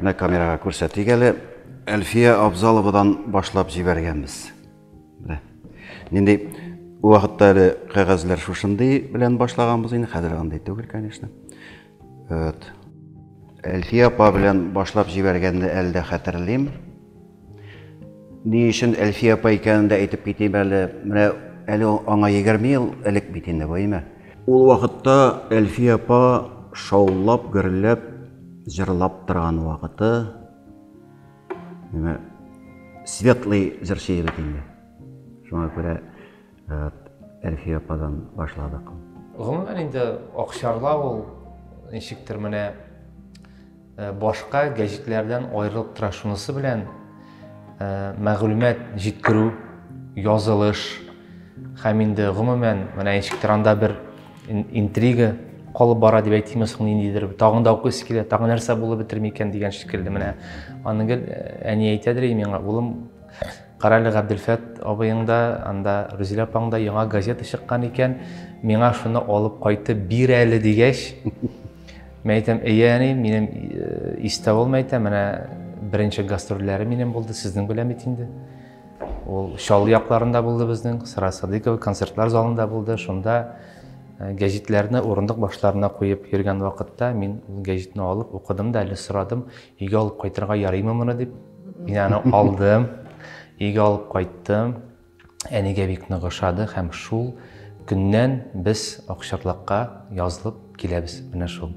Менә камерага күрсәтик әле. Әлфия Абзаловадан башлап җибәргәнбез. Менә. Нинди ул вакытта әле кәгазьләр шушындый белән башлаганбыз инде, хәзер андый түгел, конечно. Вот. Әлфия апа белән башлап җибәргәнне әле дә хәтерлим. Ни өчен Әлфия апа икәнен дә әйтеп китим әле. Менә әле аңа 20 ел элек бит инде бу, әйме? Ул вакытта Әлфия апа шаулап, гөрләп, җырлап торган вакыты. Менә светлый җырчы егет инде. Шуңа күрә Әлфия ападан башладык. Гомумән инде Акчарла ул ничектер менә Башка гәҗитләрдән аерылып тора шунысы белән, мәгълүмат җиткерү, язылыш һәм инде гомумән менә ничек тиранда бер интрига калып бара дип әйтимме соң ниндидер тагын да укыйсы килә тагын нәрсә булып бетерми икән дигән шикелле менә аны гел әни әйтәдер и миңа улым карале габделфәт абыең да анда рүзилә апаң да яңа газета чыккан икән миңа шуны алып кайтып бир әле дигәч Мин әйтәм, әйе, әни, минем э, истә ул, мин әйтәм, менә беренче гастрольләре минем булды, сезнең белән бит инде. Ул Шал якларында булды безнең, Сара Садыкова концертлар залында булды, шунда э, гәҗитләрне урындык башларына куеп йөргән вакытта мин ул гәҗитне алып укыдым да, әле сорадым, өйгә алып кайтырга ярыймы моны дип. Мин аны алдым, өйгә алып кайттым. әнигә бик нык ошады һәм шул көннән без Акчарлакка язылып киләбез. Менә шул.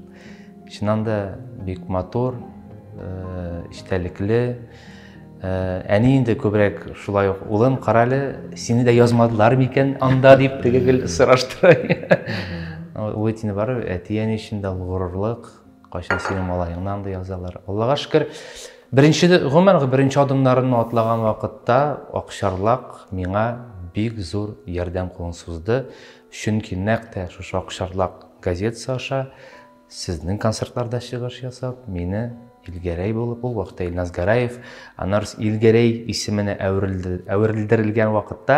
Чыннан да бик матур, э, истәлекле. Э, әни инде күбрәк шулай ук улым, карале, сине дә язмадылар микән анда дип теге гел сораштыра. Ул әтине бар, әти әни өчен дә горурлык, Кайчан синең малаеңны андый язалар. Аллага шөкер, беренче гомер беренче адымнарымны атлаган вакытта Акчарлак миңа бик зур ярдәм кулын сузды. Чөнки нәкъ тә шушы Акчарлак газетасы аша сезнең концертларда чыгыш ясап, мине Илгәрәй булып, ул вакытта Илназ Гараев, аннары Илгәрәй исеменә әверелдерелгән вакытта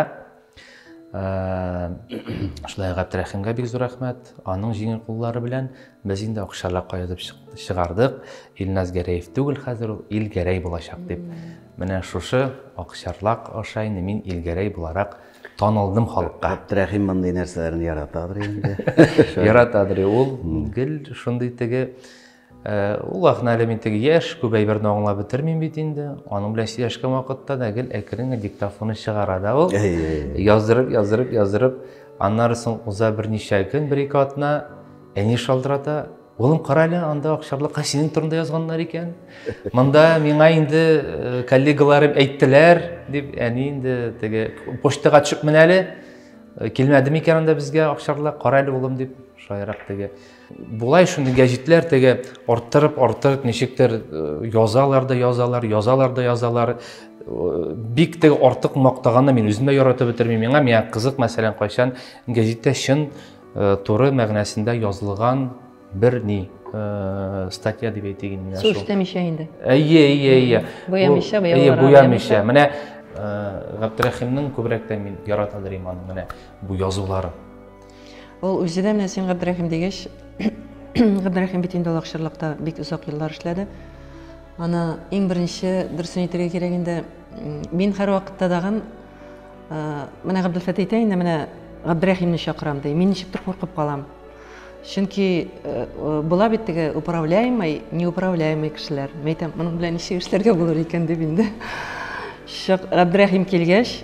Шулай Габдрәхимгә бик зур рәхмәт. Аның җиңел куллары белән без инде акчалар каядып чыгардык. Илназ Гәрәев түгел хәзер ул Илгәрәй булачак дип. Менә шушы акчарлак аша инде мин Илгәрәй буларак танылдым халыкка. Габдрәхим мондый нәрсәләрне яратадыр инде. Яратадыр ул. Гел шундый теге Ул ахна әле мин теге яшь, күп әйберне аңлап бетермим бит инде. Аның белән сөйләшкән вакытта да гел әкрен диктофоны чыгара да ул. Яздырып, яздырып, яздырып. Аннары соң уза берничә көн, бер-ике атна, әни шалтырата. Улым, кара әле, анда Акчарлыкка синең турында язганнар икән. Монда миңа инде коллегаларым әйттеләр, дип, әни инде теге почтага төшеп менә әле. Килмәде микән анда безгә Акчарлык, кара әле улым, дип, шаярак теге. Болай шундый гәҗитләр теге арттырып, арттырып ничектер э, язалар да язалар, язалар да язалар. Э, бик теге артык мактаганны мин үзем дә яратып бетермим. Миңа миңа кызык, мәсәлән, кайчан гәҗиттә чын э, туры мәгънәсендә язылган бер ни э, статья дип әйтик инде. Су эшләмичә инде. Әйе, әйе, әйе. Буямыйча, буялар. Әйе, буямыйча. Менә Габдрәхимнең күбрәктән мин яратадыр иман менә бу язулары. Ул үзе дә менә син Габдрәхим дигәч, Габдрәхим бит инде ул акчарлыкта бик озак еллар эшләде. Аны иң беренче дөресен әйтергә кирәк инде, мин һәрвакытта дагын менә Габделфәт әйтә инде, менә Габдрәхимне чакырам ди. Мин ничектер куркып калам. Чөнки була бит теге управляемый, неуправляемый кешеләр. Мәйтәм, моның белән ничек эшләргә булыр икән дип инде. Габдрәхим килгәч,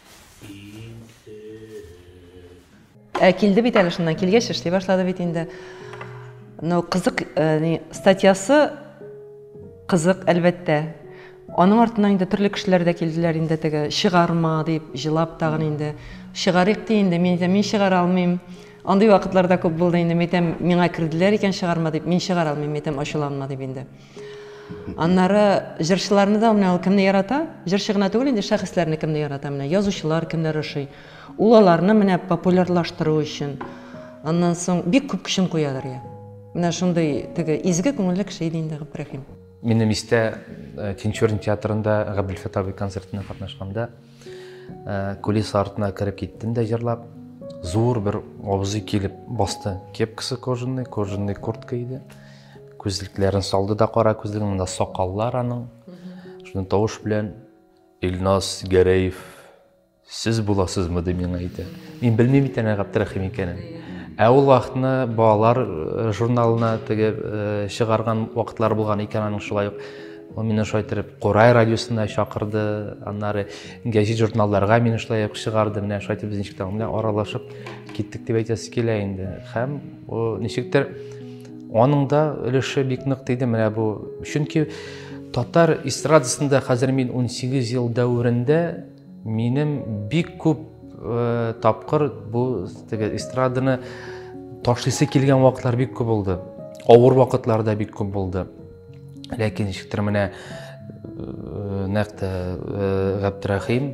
Ә килде бит әле шуннан килгәч эшли башлады бит инде. Но кызык э, статьясы кызык әлбәттә. Аның артыннан инде төрле кешеләр дә килделәр инде теге чыгарма дип җылап тагын инде чыгарыйк ди инде мин әйтәм мин чыгара алмыйм. Андый вакытларда күп булды инде мин әйтәм миңа керделәр икән чыгарма дип мин чыгара алмыйм мин әйтәм ачуланма дип инде. Аннары җырчыларны да менә ул кемне ярата? Җырчы гына түгел инде, шәхесләрне кемне ярата менә? Язучылар кемнәр ошый? Ул аларны менә популярлаштыру өчен, аннан соң бик күп көчен куядыр, я. Менә шундый теге изге күңелле кеше иде инде Габдрәхим. Минем истә, Тинчурин театрында Габделфәтах абый концертына катнашканда, Ә, кулис артына кереп киттем дә җырлап. Зур бер абзый килеп басты. Кепкасы кожаный, кожаный куртка иде. Күзлекләрен салды да кара күзлеген, монда сакаллар аның. Шуның тавыш белән Илназ Гәрәев сез буласызмы дип миңа әйтә. Мин белмим бит әнә Габдрахим икәнен. Ә ул вакытны балалар э, журналына теге э, чыгарган вакытлар булган икән аның шулай ук. Ул мине шулай итеп Курай радиосына чакырды, аннары гәҗит журналларга мине шулай ук чыгарды. Менә шулай итеп без ничек тә белән аралашып киттек дип әйтәсе килә инде. Һәм ничектер аның да өлеше бик нык тиде менә бу. Чөнки татар эстрадасында хәзер мин 18 ел дәверендә минем бик күп э, тапкыр бу теге эстраданы ташлыйсы килгән вакытлар бик күп булды. Авыр вакытларда бик күп булды. ләкин ничектер менә э, нәкъ тә э, габдрәхим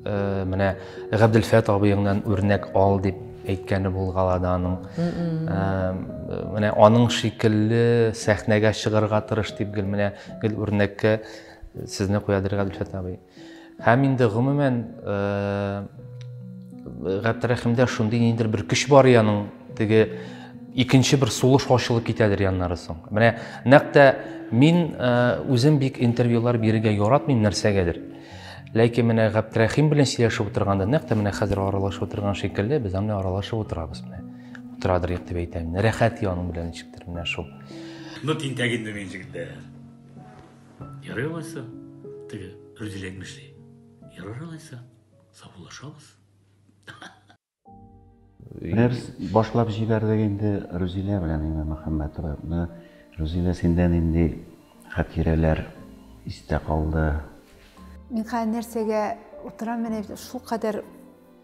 э, менә габделфәт абыеңнан үрнәк ал дип әйткәне булгала да аның менә аның шикелле сәхнәгә чыгарга тырыш дип гел менә гел үрнәккә сезне куядыр габделфәт абый Һәм инде гомумән Гәптәрәхимдә шундый ниндер бер көч бар яның теге икенче бер сулыш ачылып китәдер яннары соң менә нәкъ тә мин үзем бик интервьюлар бирергә яратмыйм нәрсәгәдер ләкин менә габдрәхим белән сөйләшеп утырганда нәкъ тә менә хәзер аралашып утырган шикелле без аны аралашып утырабыз менә утырадыр юк дип әйтәм рәхәт яның белән ничектер менә шул ну тинтәк инде мин жигетләр Ярый алайса, теге Рүдил әйтмешли. Ярар алайса, саубуллашабыз. Нәрс башлап җибәрдек инде Рүзилә белән Имә Мөхәммәтова. Менә Рүзилә синдә нинди хатирәләр истә калды? Мин хәзер нәрсәгә утырам, менә шул кадәр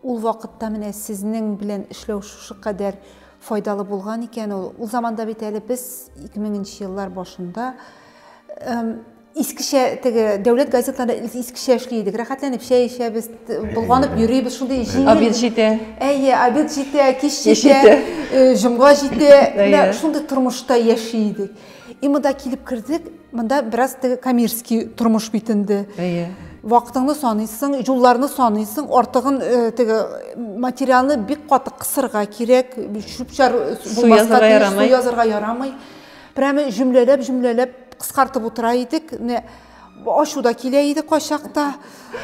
Ул вакытта менә сезнең белән эшләү шушы кадәр файдалы булган икән ул. Ул заманда бит әле без 2000 нче еллар башында искечә теге дәүләт газеталары искечә эшли идек рәхәтләнеп чәй эчәбез болганып йөрибез шундый җиңел обед җитә әйе обед җитә кич җитә җомга җитә шундый тормышта яши идек И монда килеп кердек, монда бераз теге коммерческий тормыш бит инде. Әйе. Вакытыңны саныйсың, юлларны саныйсың, артыгын э, теге материалны бик каты кысырга кирәк, чүп-чар булмаска тиеш, су язырга ярамый. Прямо җөмләләп, җөмләләп кыскартып утыра идек. Не ашу да килә иде кайчакта.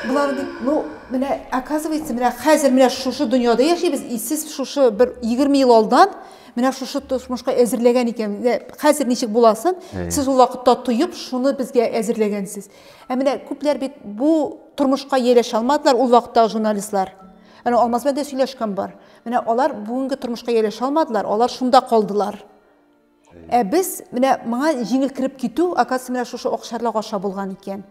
Болар дип, ну, менә оказывается, менә хәзер менә шушы дөньяда яшибез, и сез шушы бер 20 ел алдан Менә шушы тосмышка әзерләгән икән. Хәзер ничек буласын, сез ул вакытта тоеп, шуны безгә әзерләгәнсез. Ә менә күпләр бит бу тормышка ияләшә алмадылар ул вакытта журналистлар. Әнә Алмаз белән дә сөйләшкән бар. Менә алар бүгенге тормышка ияләшә алмадылар, алар шунда калдылар. Ә без менә моңа җиңел кереп китү, оказывается, менә шушы акчарлак аша булган икән.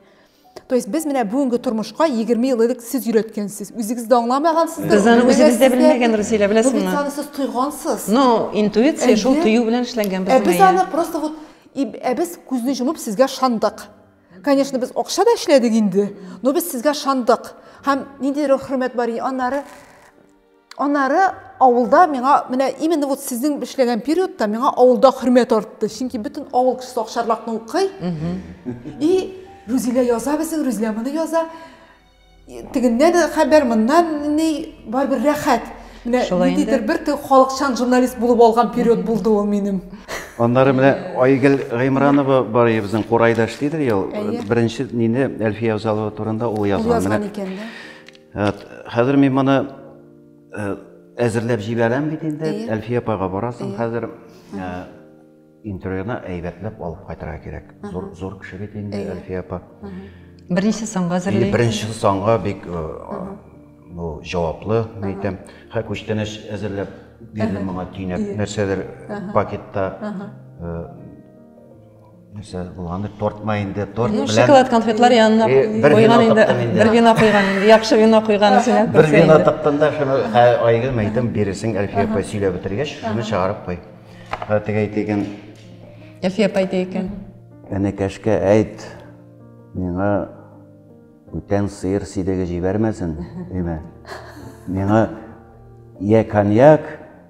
То есть без менә бүгенге тормышка 20 ел элек сез өйрәткәнсез. Үзегез дә аңламагансыз. Без аны үзебез дә белмәгән, Рузилә, беләсеңме? Бу бит аны сез тойгансыз. Но интуиция шул тою белән эшләнгән безнең. Ә без аны просто вот ә без күзне җомып сезгә шандык. Конечно, без акча да эшләдек инде, но без сезгә шандык. Һәм нинди хөрмәт бар, аннары Аннары авылда миңа менә именно вот сезнең эшләгән периодта миңа авылда хөрмәт артты. Чөнки бөтен авыл кешесе Акчарлакны укый. И Рүзилә яза безнең, Рүзилә моны яза. Тегеннән хәбәр, моннан ни, барыбер рәхәт. Менә ниндидер бер халыкчан журналист булып алган период булды ул минем. Аннары менә Айгөл Гыймранова бар иде безнең курайдаш дидер ел. Беренче нине Әлфия Авзалова турында ул язган. Ул язган икән, да. Әт, хәзер мин моны э, әзерләп җибәрәм бит инде. Әйе. Әлфия апага барасың Әйе. хәзер. Ә, интервьюны әйбәтләп алып кайтырга кирәк. Зур зур кеше бит инде Әйе. Әлфия апа. Берничә санга И әзерли. беренче санга бик э, бу җаваплы, мин әйтәм. Хә күчтәнәч әзерләп бирдем моңа төйнәп нәрсәдер пакетта. э, Нәрсә булган дип тортма инде, торт белән. Шоколад конфетлар янына куйган инде. Бер вино куйган инде. Яхшы вино куйган исенә. Бер вино тыктым да шуны айгы мәйтем биресең Әлфия апа сөйләп бетергәч, шуны чыгарып куй. Хәтегә әйтә икән. Әлфия апа әйтә икән. Энекәшкә әйт. Миңа бүтән сыер сидеге җибәрмәсен, диме? Миңа я коньяк,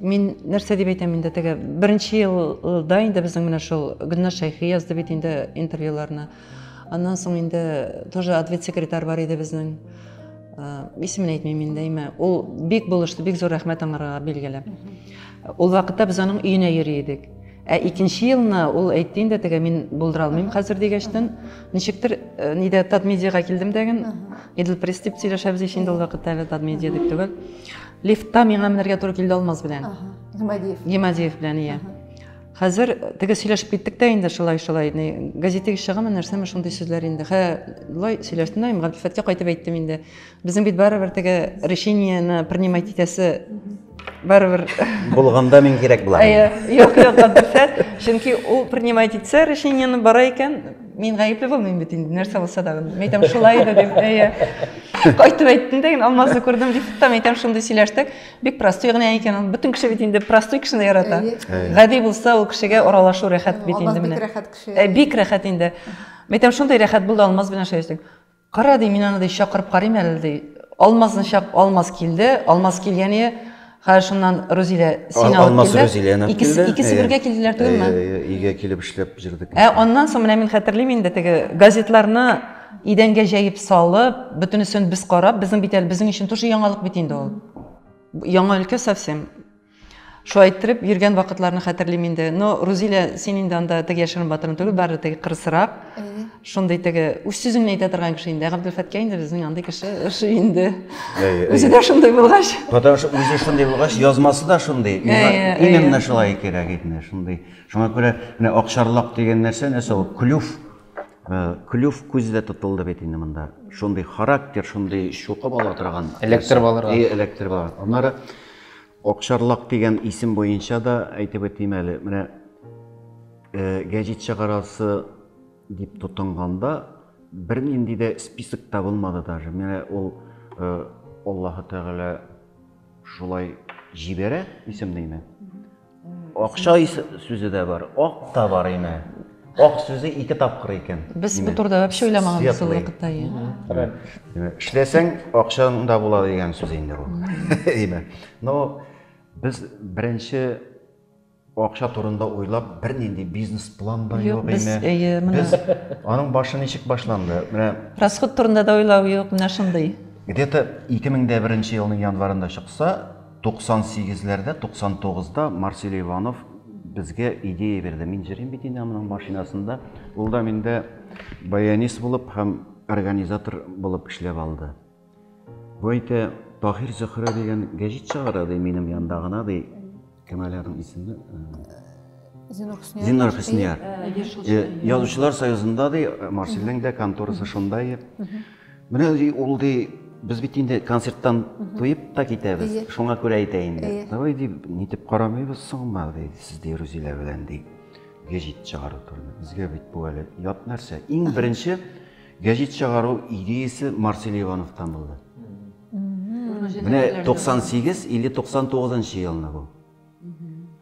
Мин нәрсә дип әйтәм инде теге беренче елда инде безнең менә шул Гөлназ Шәйхи язды бит инде интервьюларны. Аннан соң инде тоже ответ секретарь бар иде безнең. Исемен әйтмим инде, имә. Ул бик булышты, бик зур рәхмәт аңарга билгеле. Ул вакытта без аның өенә йөри идек. Ә икенче елны ул әйтте инде теге мин булдыра алмыйм хәзер дигәчтен, ничектер э, нидә Татмедиага килдем дәген, Идел пресс дип сөйләшәбез ич инде ул вакытта әле Татмедиа дип түгел. Лифтта миңа менәргә туры килде Алмаз белән. Гимадиев. Гимадиев белән, иә. Хәзер теге сөйләшеп киттек тә инде шулай шулай. Газетеге чыгамы, нәрсәме шундый сүзләр инде. Хә, лай сөйләштем дә, Габдифәткә кайтып әйттем инде. Безнең бит барыбер теге решениене принимать итәсе барыбер булганда мин кирәк була әйе юк юк дөрфәт чөнки ул принимать итсә решениены бара икән мин гаепле булмыйм бит инде нәрсә булса да мен әйтәм шулай иде дип әйе кайтып әйттем дә алмазны күрдем дип там әйтәм шундый сөйләштек бик простой генә икән ул бөтен кеше бит инде простой кешене ярата гади булса ул кешегә аралашу рәхәт бит инде менә бик рәхәт кеше бик рәхәт инде мен әйтәм шундый рәхәт булды алмаз белән шәйләшү Кара, ди, мин аны, ди, чакырып карыйм әле, ди. Алмазны чак, Алмаз килде. Алмаз килгәне, хәер, шуннан Рузилә сине алып килде. Алмаз Рузиләне алып килде. Икесе бергә килделәр түгелме? Әйе, әйе, өйгә килеп эшләп җөрдек. Ә аннан соң, менә мин хәтерлим инде, теге газетларны идәнгә җәеп салып, бөтенесен без карап, безнең бит әле, безнең өчен тоже яңалык бит инде ул. Яңа өлкә совсем. Шулай иттереп йөргән вакытларны хәтерлим инде. Но Рузилә, син инде анда теге яшерен батырын түгел, бары теге кырысырак. Шундый теге үз сүзен генә әйтә торган кеше инде. Габделфәткә инде безнең андый кеше ошый инде. Үзе дә шундый булгач. Потому что үзе шундый булгач, язмасы да шундый. Именно шулай кирәк иде, шундый. Шуңа күрә менә акчарлак дигән нәрсә нәрсә ул? Клюв. Клюв күз дә тотылды бит инде монда. Шундый характер, шундый чукып ала торган. Эләктереп алырга. И, эләктереп ала. Аннары Акчарлак дигән исем буенча да әйтеп үтим әле. Менә гәҗит чыгарасы дип тотынганда бернинди дә список та булмады даже. Менә ул Аллаһы Тәгалә шулай җибәрә исемнең. Акча сүзе дә бар, ак та бар име. Ак сүзе ике тапкыр икән. Без бу турыда вообще уйламаганбыз ул вакытта. Эшләсәң, акчаң да була дигән сүз инде ул. Име. Но без беренче акча турында уйлап бернинди бизнес план да юк без әйе менә без аның башы ничек башланды менә расход турында да уйлау юк менә шундый где то ике мең дә беренче елның январында чыкса 98-ләрдә, 99-да Марсель Иванов безгә идея бирде. Мин җырыйм бит инде аның машинасында. Ул да миндә баянист булып һәм организатор булып эшләп алды. Бу әйтә, Таһир Зөхрә дигән гәҗит чыгара ди минем янда гына ди. Кем әле аның исеме? Зинур Хөснияр. Зинур Хөснияр. Язучылар союзында ди Марсельнең дә конторасы шунда иде. Менә ул ди, без бит инде концерттан туеп та китәбез, шуңа күрә әйтә инде. Давай ди, нитеп карамыйбыз соңма ди, сез ди Рузилә белән ди. Гәҗит чыгару турында. Безгә бит бу әле ят нәрсә. Иң беренче гәҗит чыгару идеясе Марсель Ивановтан булды. Менә 98 или 99 елны бу.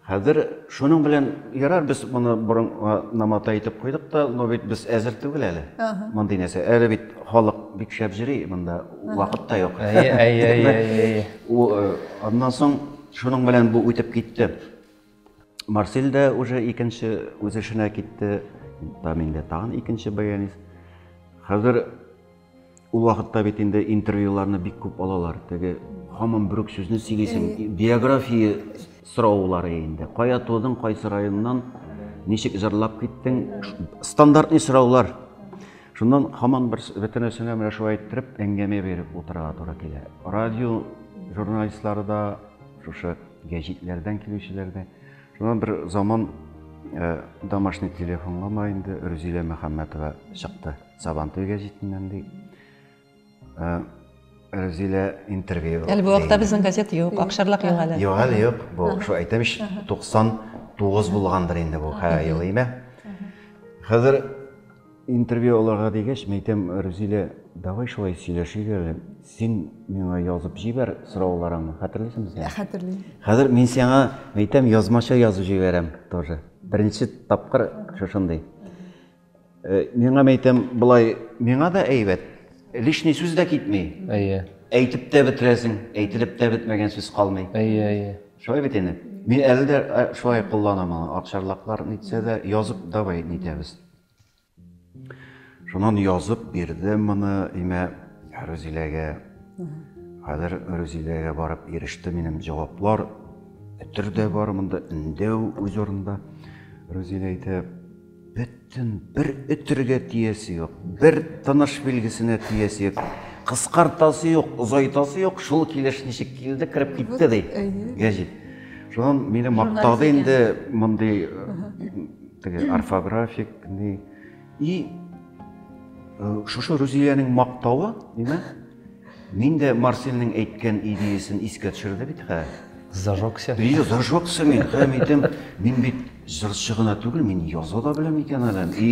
Хәзер шуның белән ярар без моны борын намата итеп куйдык та, но бит без әзер түгел әле. Мондый нәрсә. Әле бит халык бик шәп җыри, монда вакыт та юк. Әйе, әйе, әйе, әйе. Э, аннан соң шуның белән бу үтеп китте. Марсель дә уже икенче үз эшенә китте. Там инде тагын икенче баянист. Хәзер Ул вакытта бит инде интервьюларны бик күп алалар. Теге хамам бүрек сүзне сөйлисең. Биография сораулары инде. Кая тудың, кайсы районнан, ничек җырлап киттең? Стандартный сораулар. Шуннан хаман бер бөтенесенә менә шулай иттереп әңгәмә биреп утырырга туры килә. Радио журналистлары да, шушы гәҗитләрдән килүчеләр дә. Шуннан бер заман э, домашний телефонга ма инде Рүзилә Мөхәммәтова чыкты. Сабантуйга җитеннән ди. Э, Рәзилә интервью. Әле бу вакытта безнең газета юк, акшарлак юк әле. Юк әле юк. Бу шул әйтәм ич 99 булгандыр инде бу һәр ел име. Хәзер интервью алырга дигәч, мин әйтәм, Рәзилә, давай шулай сөйләшик әле. Син миңа язып җибәр сорауларыңны. Хәтерлисеңме син? Хәтерлим. Хәзер мин сиңа әйтәм, язмача язып җибәрәм тоже. Беренче тапкыр шушындый. Э, миңа мәйтәм былай миңа да әйбәт лишний сүз дә китми әйе әйтеп тә бетерәсең әйтелеп тә бетмәгән сүз калмый әйе әйе шулай бит инде мин әле дә э, шулай кулланам аны акчарлаклар нитсә дә язып давай нитәбез шуннан язып бирдем моны имә рүзиләгә хәзер рүзиләгә барып иреште минем җаваплар өтер дә бар монда өндәү үз урынында рүзилә әйтә Бөттен, бер өтергә тиясе юк, бер тыныш билгесенә тиясе юк. Кыскартасы юк, озайтасы юк, шул килеш ничек килде, кереп китте ди. Гәҗит. Шуннан мине мактады инде мондый теге орфографик ни. И шушы Рузиянең мактавы, димәк, Мин дә Марселнең әйткән идеясен искә төшерде бит, хә. Зажегся. Ие, зажегся мин, хәм әйтәм, мин бит җырчы гына түгел, мин яза да беләм икән әле. И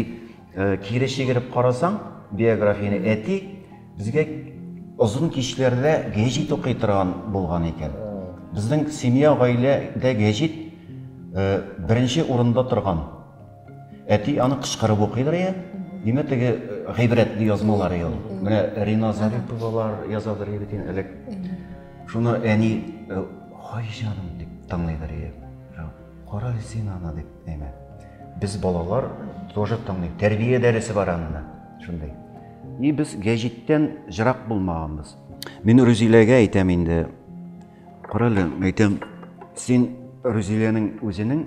э, кире чигереп карасаң, биографияне әти безгә озын кичләрдә гәҗит укый торган булган икән. Безнең семья, гаиләдә гәҗит э, беренче урында торган. Әти аны кычкырып укыйдыр я? Димәк, теге гыйбрәтле язмалар ел. Менә Рина Зариповалар язадыр бит инде элек. Шуны әни хай җаным дип тыңлыйдыр я. Кара син аны дип әйме. Без балалар тоже тыңлый. Тәрбия дәресе бар анда. Шундый. И без гәҗиттән җырак булмаганбыз. Мин Рүзиләгә әйтәм инде. Карале, әйтәм, син Рүзиләнең үзенең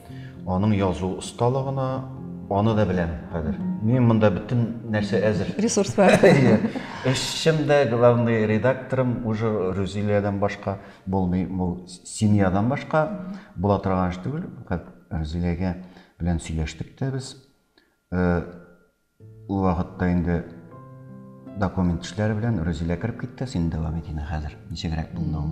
Аның язу осталыгына аны да беләм хәзер. Мин монда бөтен нәрсә әзер. Ресурс бар. Эшчем дә, главный редакторым уже Рүзиләдән башка булмый. Бу семьядан башка була торган эш түгел. Рүзиләгә белән сөйләштек тә без. Э, Ул вакытта инде документ эшләре белән Рузилә кереп китте, син дәвам ит инде хәзер, ничегрәк булды ул.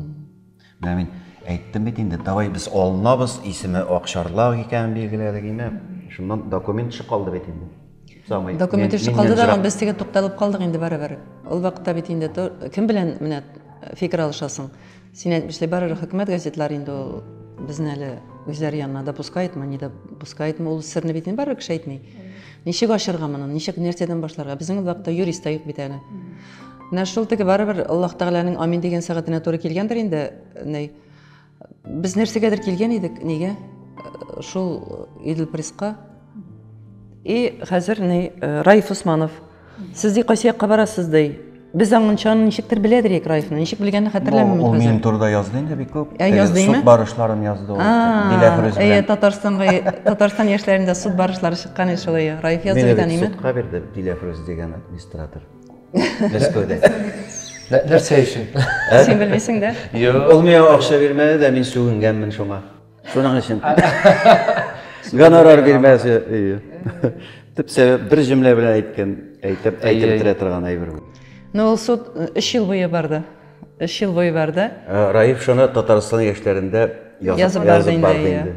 Менә мин әйттем бит инде, давай без алынабыз, исеме Акчарлак икәнен билгеләдек инде. Шуннан документ эше калды бит инде. Самый. Документ эше калды да, без теге тукталып калдык инде барыбер. Ул вакытта бит инде кем белән менә фикер алышасың? Син әйтмешли барыр хөкүмәт газетлары инде ул безне әле үзләре янына допускаетмы, не допускаетмы, ул серне бит инде барыр кеше әйтми. Ничек ачырга моны, ничек нәрсәдән башларга? Безнең вакытта юрист та юк бит әле. Менә шул теге барыбер Аллаһ Тәгаләнең амин дигән сәгатенә туры килгәндер инде. Ней. Без нәрсәгәдер килгән идек, нигә? Шул Идел Присқа. И хәзер ни э, Раиф Усманов Сез ди кайсы якка барасыз ди? Без аңынча аны ничектер беләдер Ек Раевны. Ничек белгәнне хәтерләмим мин хәзер. Ул минем турыда язды инде бик күп. Ә язды инде? Суд барышларын язды ул. Диләфрүз белән. Әйе, Татарстанга Татарстан яшьләрендә суд барышлары чыккан иде шулай. Раев язды бит әниме? Мин судка бирде Диләфрүз дигән администратор. Мәскәүдә. Нәрсә өчен? Син белмисең дә. Юк. Ул миңа акча бирмәде дә, мин сүгенгәнмен шуңа. Шуның өчен. Гонорар бирмәсе. Төп сәбәп бер җөмлә белән әйткән, әйтеп әйтеп бетерә торган әйбер бу. Ну, ул суд 3 ел буе барды. 3 ел буе барды. Э, Раиф шуны Татарстан яшьләрендә язып барды инде.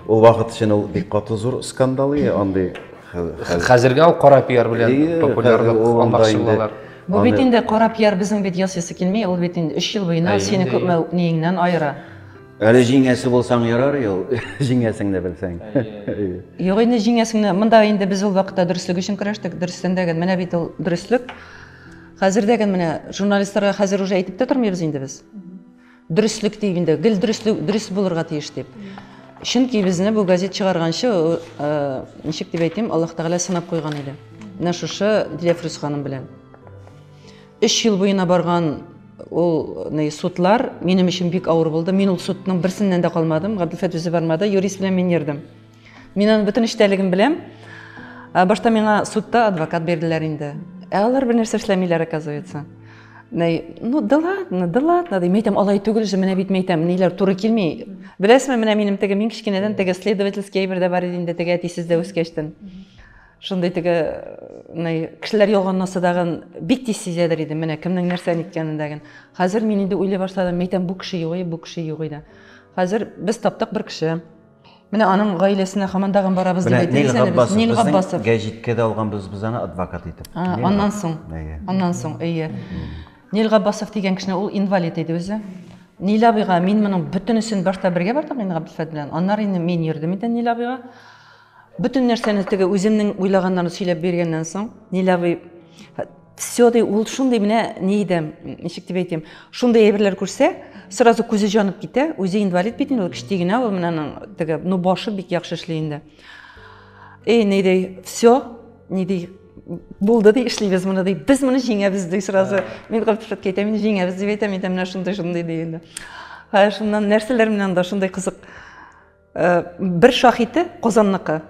Ул вакыт өчен ул бик каты зур скандал иде, андый. Хәзергә ул кара пиар белән популярлык алмакчы булалар. Бу бит инде кара пиар безнең бит ясыйсы килми, ул бит инде 3 ел буена сине күпме ниеңнән аера. Әле җиңәсе булсаң ярар ул, җиңәсең дә белсәң. Юк инде җиңәсең дә. Монда инде без ул вакытта дөреслек өчен көрәштек. Дөрестән дә гел менә бит ул дөреслек. Хәзер дә гел менә журналистларга хәзер уже әйтеп тә тормыйбыз инде без. Дөреслек дип инде, гел дөреслек, дөрес булырга тиеш дип. Чөнки безне бу газет чыгарганчы, э, ничек дип әйтим, Аллаһ Тәгалә сынап куйган иде. Менә шушы Диләфрүз ханым белән. Өч ел буена барган ул судлар минем өчен бик авыр булды. Мин ул судның берсеннән дә калмадым. Габделфәт үзе бармады, юрист белән мин йөрдем. Мин аның бөтен эчтәлеген беләм. Ә, башта миңа судта адвокат бирделәр инде. Ә алар бернәрсә эшләмиләр, оказывается. Ну, да ладно, да ладно, ди. Мәйтәм, алай түгел же, менә бит мәйтәм, ниләр туры килми. Беләсезме, менә минем теге мин кечкенәдән теге следовательский әйбер дә бар иде инде, теге әтисез дә үскәчтен. шундый теге кешеләр ялганына сыдаган бик тиз сизәдер идем менә кемнең нәрсә ниткәнен дәген хәзер мин инде уйлый башладым мин әйтәм бу кеше юк бу кеше юк иде хәзер без таптык бер кеше менә аның гаиләсенә хаман тагын барабыз дип әйтәбез әле без нил габбасов гәҗиткә дә алганбыз без аны адвокат итеп аннан соң аннан соң әйе нил габбасов дигән кешене ул инвалид иде үзе нил абыйга мин моның бөтенесен башта бергә бардык инде габделфәт белән аннары инде мин йөрдем инде нил абыйга Бөтен нәрсәне теге үземнең уйлаганнарны сөйләп биргәннән соң, Ниләви все ди ул шундый менә ни иде, ничек дип әйтим, шундый әйберләр күрсә, сразу күзе җанып китә, үзе инвалид бит инде, ул кечти генә ул менә аның теге, ну башы бик яхшы эшли инде. Эй, ни ди, все, ни ди, булды ди, эшлибез моны ди, без моны җиңәбез ди сразу. Мин Габдифәткә әйтәм, мин җиңәбез дип әйтәм, әйтәм, менә шундый шундый ди инде. Шуннан нәрсәләр менән дә шундый кызык. Э, бер шахите Казанныкы.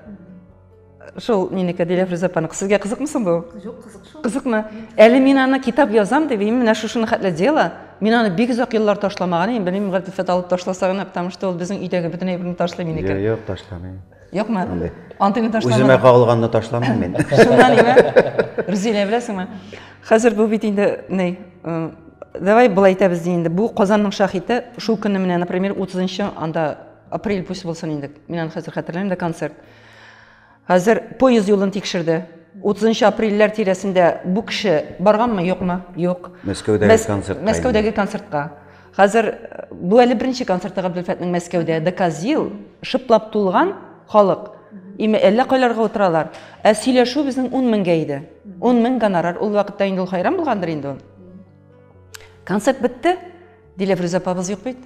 Шул минеке Дилә Фриза апаның. Сезгә кызыкмы соң бу? Юк, кызык шул. Кызыкмы? Әле мин аны китап язам дип, мин менә шушыны хәтле дела. Мин аны бик озак еллар ташламаган идем. Белмим, Гатифәт алып ташласа гына, потому что ул безнең өйдәге бөтен әйберне ташлый минеке. Юк, юк, ташламыйм. Юкмы? Антыйны ташламадым. Үземә кагылганны ташламыйм мин. Шуннан име? Рүзилә беләсеңме? Хәзер бу бит инде ни, э, давай былай итәбез ди инде бу казанның шахите шул көнне менә например утызынчы анда апрель пусть булсын инде мин аны хәзер хәтерләмим дә концерт хәзер поезд юлын тикшерде отызынчы апрельләр тирәсендә бу кеше барганмы юкмы юк мәскәүдәге концертка мәскәүдәге концертка хәзер э, бу әле беренче концерты габделфәтнең мәскәүдә доказил шыплап тулган халык име әллә кайларга утыралар ә сөйләшү безнең ун меңгә иде ун мең гонорар ул вакытта инде ул хайран булгандыр инде ул Концерт бетте, Диләфрүз апабыз юк бит.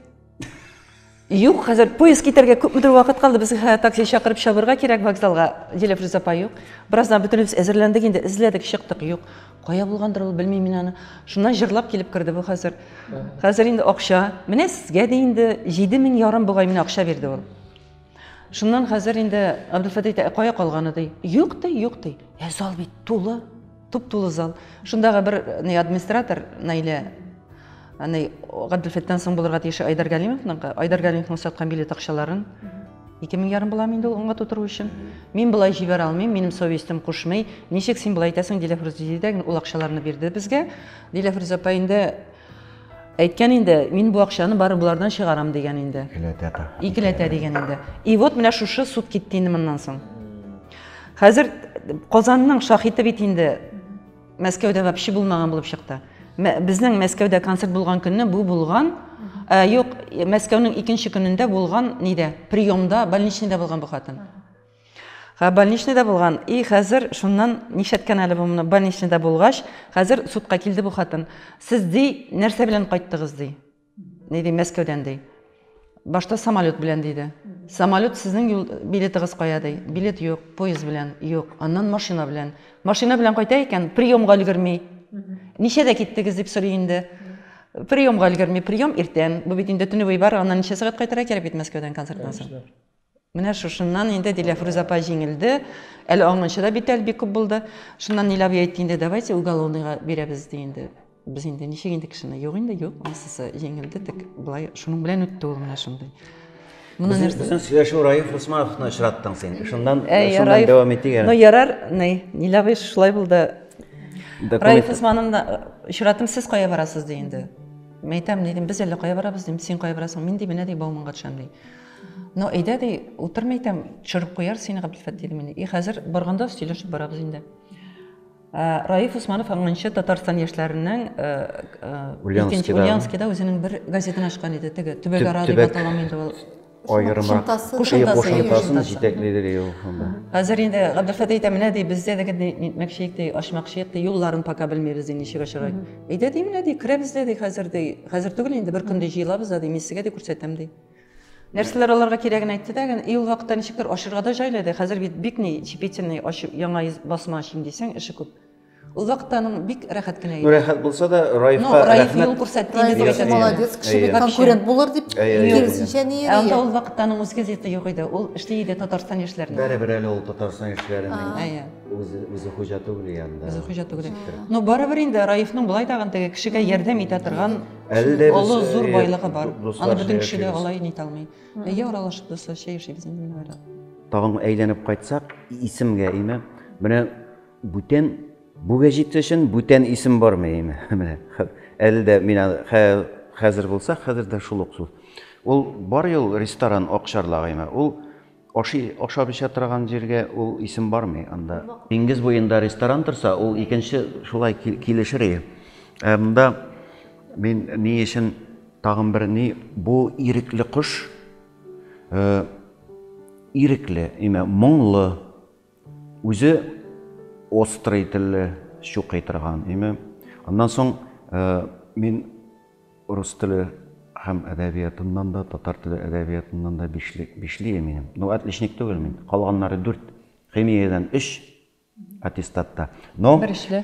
Юк, хәзер поезд китәргә күпмедер вакыт калды. Без хә такси чакырып чабырга кирәк вокзалга. Диләп Рүзапа юк. Бераздан бөтенебез әзерләндек инде, эзләдек, чыктык. Юк. Кая булгандыр ул, белмим мин аны. Шуннан җырлап килеп керде бу хәзер. Хәзер инде акча. Менә сезгә дә инде 7000 ярым бугай мин акча бирде ул. Шуннан хәзер инде Абдулфатый әйтә, «Ә кая калганы ди. Юк ди, юк ди. Ә зал бит тулы. Туп-тулы зал. Шундагы бер ни администратор Наилә аны Гаделфеттан соң булырга тиеше Айдар Галимовның, Айдар Галимовның саткан билет акчаларын ике мең ярым була инде ул аңга тутыру өчен. Мин болай җибәрә алмыйм, минем совестем кушмый. Ничек син болай итәсең, Диләфрүз диде дә, ул акчаларны бирде безгә. Диләфрүз апа инде Әйткән инде, мин бу акчаны бары болардан чыгарам дигән инде. Икеләтә. Икеләтә дигән инде. И вот менә шушы суд китте инде моннан соң. Хәзер Казанның шахиты бит инде Мәскәүдә вообще булмаган булып чыкты. Безнең Мәскәүдә концерт булган көнне бу булган, ә, юк, Мәскәүнең икенче көнендә булган нидә, приемда, больничныйда булган бу хатын. Ха больничныйда булган и хәзер шуннан нишләткән әле бу моны больничныйда булгач хәзер судка килде бу хатын сез ди нәрсә белән кайттыгыз ди ни ди мәскәүдән ди башта самолет белән диде самолет сезнең юл билетыгыз кая ди билет юк поезд белән юк аннан машина белән машина белән кайта икән приемга өлгерми ничәдә киттегез дип сорый инде приемга өлгерми прием иртән бу бит инде төневой бар аннан ничә сәгать кайтырга кирәк бит мәскәүдән концерттан соң Менә шушыннан инде Диләфрүз апа җиңелде. Әле аңынчы да бит әле бик күп булды. Шуннан Нилә абый әйтте инде, давайте уголовныйга бирәбез ди инде. Без инде ничек инде кешене? Юк инде, юк, анысысы җиңелде, тик болай шуның белән үтте ул менә шундый. Моны нәрсә? Безнең сөйләшү Раиф Усмановны очраттың син. Шуннан, шуннан дәвам итик әле. Ну, ярар, ни, Нилә абый шулай булды. Раиф Усмановны очраттым, сез кая барасыз ди инде. Мәйтәм, дидем, без әле кая барабыз, дим, син кая барасың? Мин ди, менә ди, Бауманга төшәм ди. Ну, әйдә ди, утырмый икән, төшереп куяр сине Габделфәт диде мине. И хәзер барганда сөйләшеп барабыз инде. Ә, Раиф Усманов аңынча Татарстан яшьләренең ә, ә, Ульяновскида. Ульяновскида үзенең бер газетын ачкан иде, теге Төбәк ара дип аталам инде ул. Аерма. Кушымтасын җитәклидер ел. Хәзер инде Габделфәт әйтә менә ди, бездә дә генә нитмәкче итә, ачмакчы итә, юлларын пока белмибез ди, ничек ачарга. Әйдә ди менә ди, керәбез дә ди хәзер ди. Хәзер түгел инде бер көндә җыелабыз да ди, мин сезгә дә күрсәтәм ди. Нәрсәләр аларга кирәген әйтте дә, и ул вакытта ничектер ачырга да җайлы иде. Хәзер бит бик ни чепительный ачып, яңа басма ачыйм дисәң, эше күп. Ул вакытта аның бик рәхәт кенә иде. Рәхәт булса да, Раифка рәхмәт. Раиф юл күрсәтте инде дип әйтә. Молодец, кеше бит конкурент булыр дип киресенчә ни йөри. Анда ул вакытта аның үз газеты юк иде. Ул эшли иде Татарстан яшьләренә. Барыбер әле ул Татарстан яшьләренең үзе хуҗа түгел янда. Үзе хуҗа түгел. Но барыбер инде Раифның болай тагын теге кешегә ярдәм итә торган Әле дә без олы зур байлыгы бар. Аны бөтен кеше дә алай нитә алмый. Әйе, аралашып дусларча яшибез инде мин бара. Тагын әйләнеп кайтсак, исемгә име. Менә бүтән бүгә җитсә өчен бүтән исем бармы име? Менә әле дә мин хәзер булса, хәзер дә шул ук сүз. Ул бар ел ресторан Акчарлак име. Ул Ашый, ашап-эчә торган җиргә ул исем бармый анда. Диңгез буенда ресторан торса, ул икенче шулай килешер иде. Ә монда мин ни өчен тагын бер ни, бу ирекле кош, ирекле, имә, моңлы. Үзе острый телле, щукый торган, име. Аннан соң мин рус теле һәм әдәбиятыннан да, татар теле әдәбиятыннан да бишле, бишле минем. Ну, отличник түгел мин. Калганнары дүрт. Химиядән өч аттестатта. Но... Бер эшле.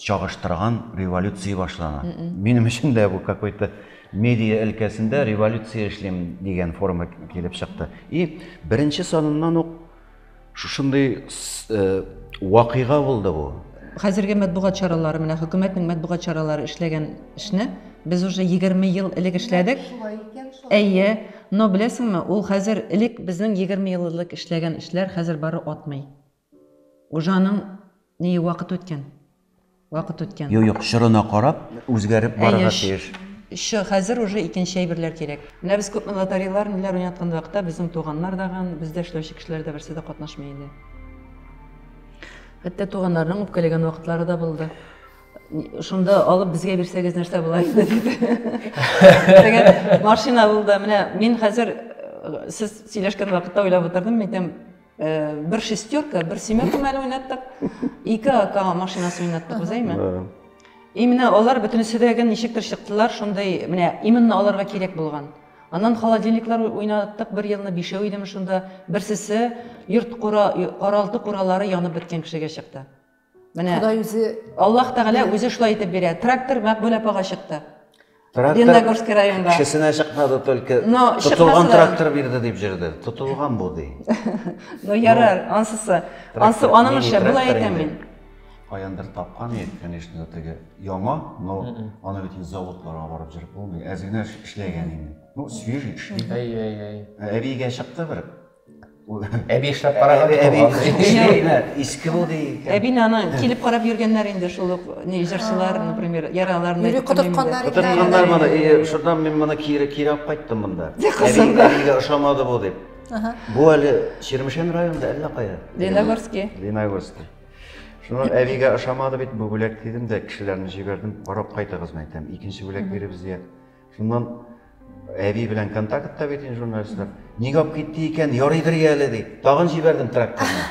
чагыштырган революция башлана. Минем өчен дә бу какой-то медиа өлкәсендә революция эшлим дигән форма килеп чыкты. И беренче саныннан ук шушындый э, вакыйга булды бу. Хәзерге матбугат чаралары менә хөкүмәтнең матбугат чаралары эшләгән эшне без уже 20 ел элек эшләдек. Әйе, но беләсеңме, ул хәзер элек безнең 20 ел элек эшләгән эшләр хәзер бары атмый. Гужаның нее вакыт үткән. Вакыт үткән. Юк, юк, чорына карап, үзгәреп барырга тиеш. Әйе, чы, хәзер уже икенче әйберләр кирәк. Менә без күпме лоторейлар, ниләр уйнаткан вакытта безнең туганнар да ган, бездә эшләүче кешеләр дә берсе дә катнашмый иде. Хәтта туганнарның үпкәләгән вакытлары да булды. Шунда алып безгә бирсәгез нәрсә була инде диде. Дигән машина булды. Менә мин хәзер э, сез сөйләшкән вакытта уйлап утырдым, әйтәм, Э, бер шестерка, бер семерка мәле уйнаттык, ике ака машинасы уйнаттык, без әйме? И менә алар бөтенесе дә гән ничектер чыктылар, шундый, менә именно аларга кирәк булган. Аннан холодильниклар уйнаттык, бер елны бишәү идем шунда, берсесе йорт кора, каралты куралары янып беткән кешегә чыкты. Менә Ходай үзе Аллаһ Тәгалә үзе шулай итеп бирә. Трактор Мәкбүлә апага чыкты. Леногорский районга. Кешесенә чыкмады только. Но тотылган трактор бирде дип җөрде. Тотылган бу ди. Ну ярар, ансысы. Ансы аның эше, болай әйтәм мин. Каяндыр тапкан ид, конечно, теге яңа, но аны бит заводларга барып җөреп булмый. Әзгенә эшләгән инде. Ну, свежий эшли. Әй, әй, әй. Әбигә чыкты бер. Әби эшләп караган бит ул аны. Иске бу ди. Әбине аны килеп карап йөргәннәр инде шул ук ни җырчылар, например, яраларны. Юри котыртканнар инде. Котыртканнар моны. И, шуннан мин моны кире кире алып кайттым монда. Әбигә ошамады бу дип. Бу әле Чирмешән районында әллә кая. Леногорский. Леногорский. Шуннан әбигә ошамады бит бу бүләк дидем дә, кешеләрне җибәрдем, карап кайтыгыз, мәйтәм. Икенче бүләк биребез дия. Шуннан әби белән контактта бит инде журналистлар. Нигә алып китте икән? Ярыйдыр я әле, ди. Тагын җибәрдем тракторны.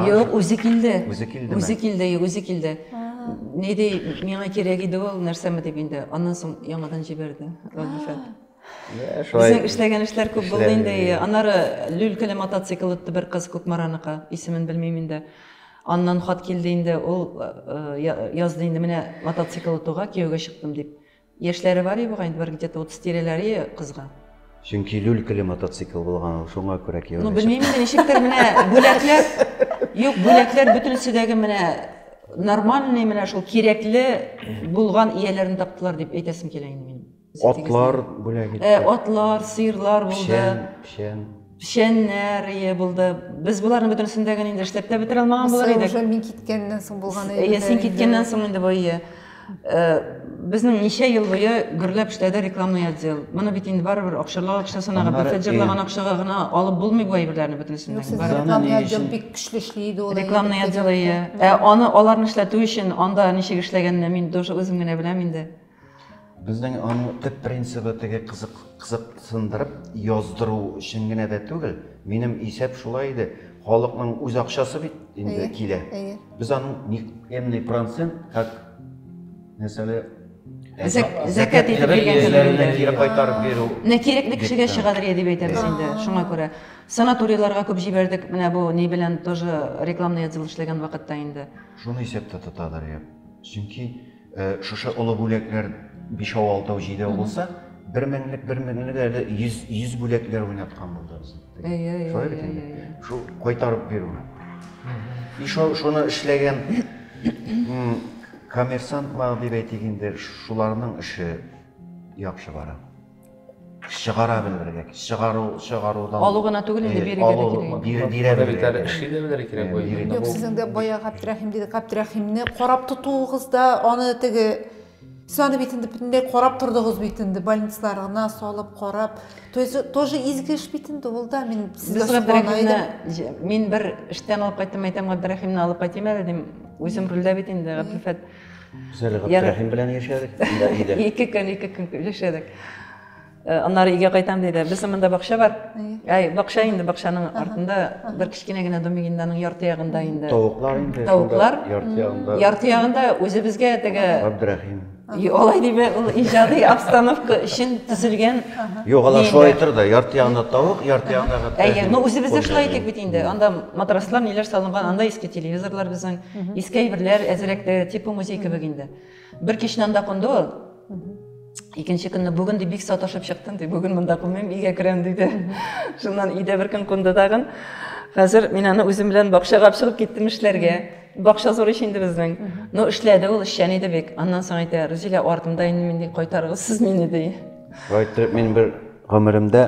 Юк, үзе килде. Үзе килдеме? Үзе килде, юк, үзе килде. Ни ди, миңа кирәк иде ул, нәрсәме дип инде. Аннан соң яңадан җибәрде Габдулфәт. Безнең эшләгән эшләр күп булды инде. Аннары люлькәле мотоцикл отты бер кыз Кукмараныкы, исемен белмим инде. Аннан хат килде инде, ул язды инде, менә мотоцикл отуга кияүгә чыктым дип. Яшьләре бар иде бугай инде, бер где-то утыз тирәләре иде кызга. Чөнки люлькалы мотоцикл булган ул, шуңа күрә кияүгә Ну, чыкты. белмим инде, ничектер менә бүләкләр, юк, бүләкләр бөтенесе дә менә нормальный, менә шул кирәкле булган ияләрен таптылар дип әйтәсем килә инде минем. Атлар бүләк итте. Э, атлар, сыерлар булды. Печән, печән. печәннәр ие булды. Без боларның бөтенесен дә инде эшләп тә бетерә алмаган булыр идек. Уже мин киткәннән соң булган иде. Ие, син киткәннән соң инде бу ие. Безнең ничә ел буе гөрләп эшләде рекламный отдел. Моны бит инде барыбер акчарлау акчасына гына, бәхет җырлаган акчага гына алып булмый бу әйберләрне бөтенесен дә. Сезнең рекламный отдел бик көчле эшли иде ул. Рекламный отдел ие. Ә аны аларны эшләтү өчен анда ничек эшләгәнне мин тоже үзем генә беләм инде. Безнең аның төп принцибы теге кызык кызык сындырып яздыру өчен генә дә түгел. Минем исәп шулай иде. Халыкның үз акчасы бит инде килә. Без аның никемный процент как мәсәле зәкәт итеп биргәннәренә кире кайтарып бирү. Менә кирәкле кешегә чыгадыр я дип әйтәбез инде. Шуңа күрә санаторийларга күп җибәрдек. Менә бу ни белән тоже рекламный отдел эшләгән вакытта инде. Шуны исәптә тотадыр я. Чөнки Шушы олы бүләкләр бишәү, алтау, җидәү булса, бер меңлек, бер меңлек әле йөз, йөз бүләкләр уйнаткан булды без. Шулай бит инде. Шул кайтарып бирү. И шуны эшләгән коммерсант мал дип әйтик инде, шуларның эше яхшы бара. чыгара белергә чыгару чыгарудан Алу гына түгел, инде бирергә дә алу- кирәк. бир- бирә Моны бит белергә әле кирәк. эшли дә белергә кирәк Э, бу инде. бирергә. Юк, сезнең дә бая Габдрәхим диде, Габдрәхимне карап тотуыгыз да, аны теге, сез аны бит инде бөтенләй карап тордыгыз бит инде, больницаларына салып, карап. То есть, тоже изге эш бит инде ул да, мин Без сезгә соклана идем. Габдрәхимне, җ- мин бер эштән алып кайттым, әйтәм, Габдрәхимне алып кайтыйм әле, дим, үзем рульдә бит инде, Габделфәт. Зәле Габдрәхим белән яшәдек. Ике көн, ике көн яшәдек. Э, аннары өйгә кайтам диде. Безнең монда бакча бар. Әй, бакча инде, бакчаның артында бер кечкенә генә домигинданың ярты ягында инде. Тавыклар инде. Тавыклар. Ярты ягында. Ярты ягында үзебезгә теге Габдрәхим. Алай диме, ул иҗади обстановка өчен төзелгән. Юк, алар шулай тор да, ярты ягында тавык, ярты ягында Габдрәхим. Әйе, но үзебездә шулай итик бит инде. Анда матраслар, ниләр салынган, анда иске телевизорлар безнең. Иске әйберләр әзрәкте, типа музей кебек инде. Бер кичне анда кунды ул. Икенче көнне бүген ди бик саташып чыктым, ди, бүген монда кунмыйм, өйгә керәм, диде. Шуннан өйдә бер көн кунды тагын. Хәзер мин аны үзем белән бакчага чыгып киттем эшләргә. Бакча зур ич инде безнең. Ну, эшләде ул, эшчән иде бик. Аннан соң әйтә, Рузилә, артымда инде мин ди, кайтарыгыз сез мине, ди. Шулай итеп мин бер гомеремдә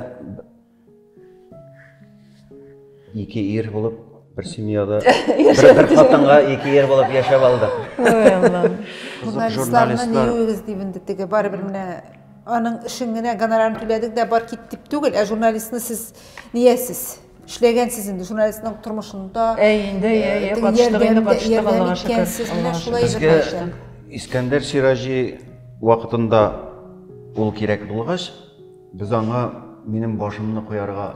Ике ир булып, бер семьяда, бер, бер хатынга ике ир булып яшәп алдык. Ой, Аллам. Кызык журналистлар. Үз дивенде теге бар бер менә аның өчен генә гонорарын түләдек дә бар кит дип түгел, ә журналистны сез ниясез? Эшләгәнсез инде журналистның тормышында. Әй, инде, әй, әй, катыштык инде, катыштык, Аллага шөкер. Менә шулай Безгә Искәндәр Сираҗи вакытында ул кирәк булгач, Без аңа минем башымны куярга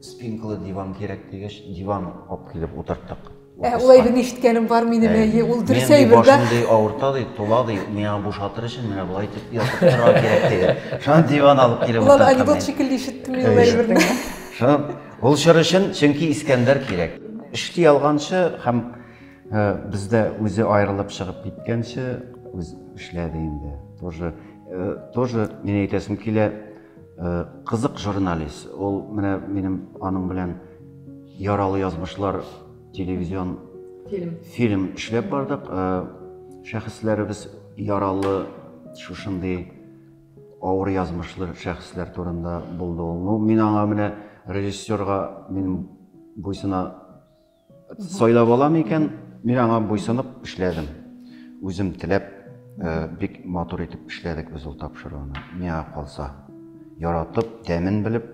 спинкалы диван кирәк дигәч, диван алып килеп утырттык. Ә ул әйберне ишеткәнем бар минем, әйе, ул дөрес әйбер дә. Башымды авырта ди, тула ди, миңа бушатыр өчен менә болай итеп ятып торырга кирәк диде. Шуңа диван алып килеп утырттым. Ул анекдот шикелле ишеттем мин ул әйберне. Шуңа ул чор өчен, чөнки Искәндәр кирәк. Эшли алганчы һәм Э, Бездә үзе аерылып чыгып киткәнче үз эшләде инде. Тоже э, тоже мин әйтәсем килә, э, кызык журналист. Ул менә минем аның белән яралы язмышлар телевизион фильм фильм эшләп бардык. Шәхесләребез яралы шушындый авыр язмышлы шәхесләр турында булды ул. Ну, мин аңа менә режиссерга мин буйсына Сайлап алам икән, мин аңа буйсынып эшләдем. Үзем теләп, э, бик матур итеп эшләдек без ул тапшыруны. Миңа калса, яратып, тәмен белеп,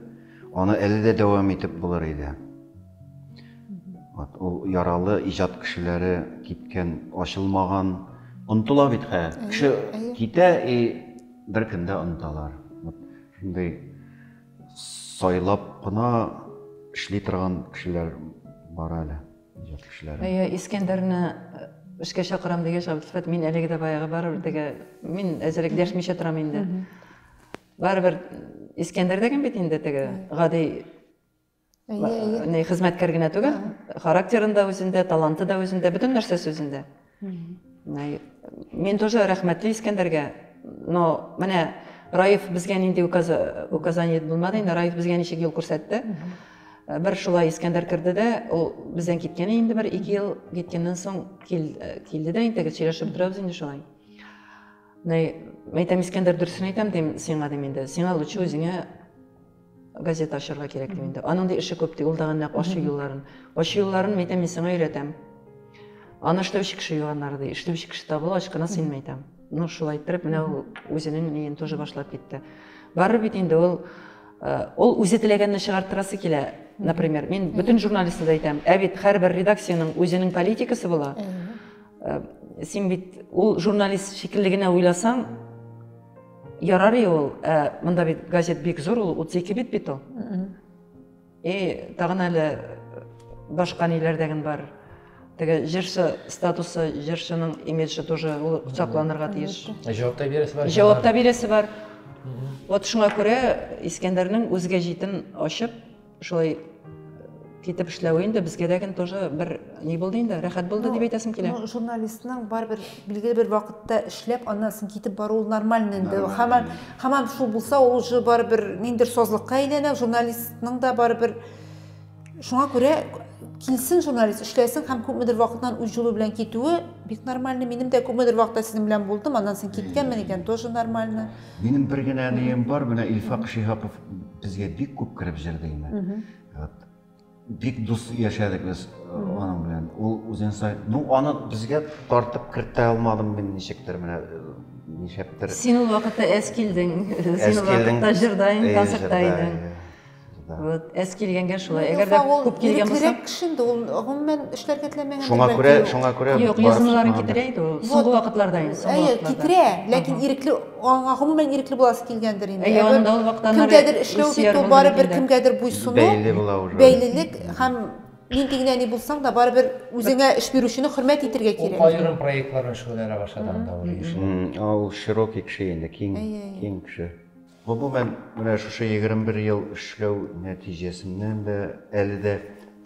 аны әле дә дәвам итеп булыр иде. Вот ул яралы иҗат кешеләре киткән, ачылмаган, онтыла бит хә. Кеше китә и беркемдә онталар. Вот шундый сайлап кына эшли торган кешеләр бар әле иҗат кешеләре әйе искәндәрне э, эшкә чакырам дигәч абсфәт мин әлеге дә баягы барыбер теге мин әзерәк дәшмичә торам инде барыбер искәндәр дәген бит инде теге гади не хезмәткәр генә түгел характерын да үзендә таланты да үзендә бөтен нәрсәсе үзендә мин тоже рәхмәтле искәндәргә но менә раиф безгә нинди указание булмады инде раиф безгә ничек юл күрсәтте э, бер шулай искәндәр керде дә ул бездән киткән инде бер ике ел киткәннән соң э, килде дә инде сөйләшеп торабыз инде шулай әйтәм искәндәр дөресен әйтәм дим сиңа дим инде сиңа лучше үзеңә Газета ачарга кирәк ди инде. Аның да эше күп ди, ул да нәкъ ачу юлларын. Ачу юлларын мәйтәм, мин сиңа өйрәтәм. Аны эшләүче кеше юганнары ди, эшләүче кеше табылгач кына син мәйтәм. Ну, шулай иттереп, менә ул үзенең ниен тоже башлап китте. Барыр бит инде ул Э, ол үзе теләгәнне чыгарттырасы килә например мин бүтін журналистке де айтамын ә бит әрбір редакцияның өзінің политикасы бола э, сен бит ол журналист шикіллі генә ойласаң Ярар и ул, ә монда бит газет бик зур, ул 32 бит бит ул. И тагын әле башка ниләрдәген бар. Теге җырчы статусы, җырчының имиджы тоже ул сакланырга тиеш. Җавап та бирәсе бар. Җавап та бирәсе бар. Вот шуңа күрә Искәндәрнең үзгә җитен ачып, Шулай китеп эшләве инде безгә дә генә тоже бер ни булды инде, рәхәт булды ну, дип әйтәсем килә. Ну, журналистның барыбер билгеле бер вакытта эшләп, аннан соң китеп баруы нормально инде. Хамам, хамам шул булса, ул уже барыбер ниндер созлыкка әйләнә, журналистның да барыбер шуңа күрә килсен журналист эшләсен һәм күпмедер вакыттан үз юлы белән китүе бик нормально минем дә күпмедер вакытта сезнең белән булдым аннан соң киткәнмен икән тоже нормально минем бер генә нием бар менә илфак шиһапов Безгә бик күп кереп җырды инде. Вот. Бик дус яшәдек без э, аның белән. Ул үзен сай... Ну, аны безгә тартып кертә алмадым мин ничектер менә э, ничектер. Син ул вакытта әз килдең. Син ул вакытта җырда идең, концертта идең. Вот, әз килгәнгә шулай. Әгәр дә күп килгән булса, кирәк кеше инде ул гомумән эшләргә теләмәгән. Шуңа күрә, шуңа күрә. Юк, язмаларын китерә иде ул. Соңгы вакытларда инде, соңгы вакытларда. Әйе, китерә, ләкин ирекле аңа гомумән ирекле буласы килгәндер инде. Әйе, анда ул вакыттан кемгәдер эшләү бит ул барыбер кемгәдер буйсыну. Бәйле була уже. Бәйлелек һәм нинди генә ни булсаң да барыбер үзеңә эш бирүчене хөрмәт итәргә кирәк. Ул аерым проектлар белән шөгыльләнә башлады анда ул ише. Ул широкий кеше инде, киң, киң кеше. Гомумән, менә шушы 21 ел эшләү нәтиҗәсеннән дә әле дә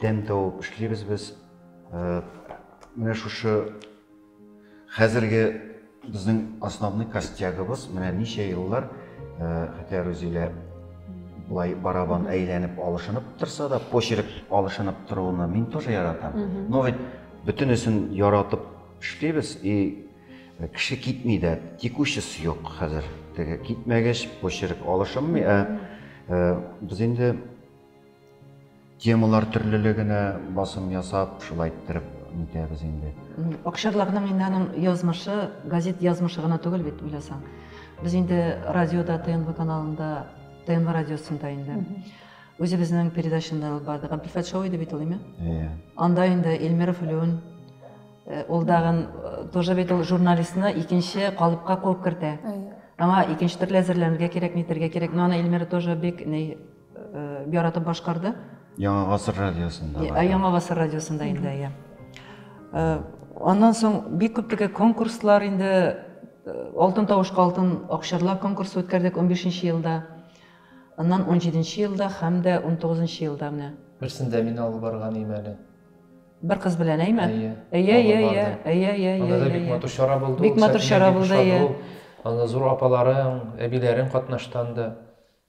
тәм табып эшлибез без. Менә шушы Хәзерге безнең основной костягыбыз менә ничә еллар хәтәр үзилә былай барабан әйләнеп алышынып торса да почерк алышынып торуны мин тоже яратам но ведь бөтенесен яратып эшлибез и э, кеше китми дә текущес юк хәзер теге китмәгәч почерк алышынмый ә э, без инде Темалар төрлелегенә басым ясап, шулай иттереп нитәбез инде. Акчарлакның инде аның язмышы, газет язмышы гына түгел бит, уйласаң. Без инде радиода, ТНВ каналында, ТНВ радиосында инде. Үзебезнең передачында алып барды. Габделфәт шоу иде бит ул, име? Иә. Анда инде Эльмиров Леон, э, ул дагын э, тоже бит ул журналистны икенче калыпка куып кертә. Аңа икенче төрле әзерләнергә кирәк, нитергә кирәк. Но аны Эльмира тоже бик ни э, яратып башкарды. Яңа гасыр радиосында. Ә, Яңа гасыр радиосында инде, иә. Э, аннан соң бик күп теге конкурслар инде э, Алтын тавышка алтын акчарлар конкурсы үткәрдек 15 елда. Аннан 17 елда һәм дә 19 елда менә. Берсендә мин алып барган ием әле. Бер кыз белән әйме? Әйе. Әйе, әйе, әйе, әйе, әйе, әйе. Анда да бик матур чара булды. Бик матур чара булды, әйе. Анда зур апаларың, әбиләрең катнаштанды.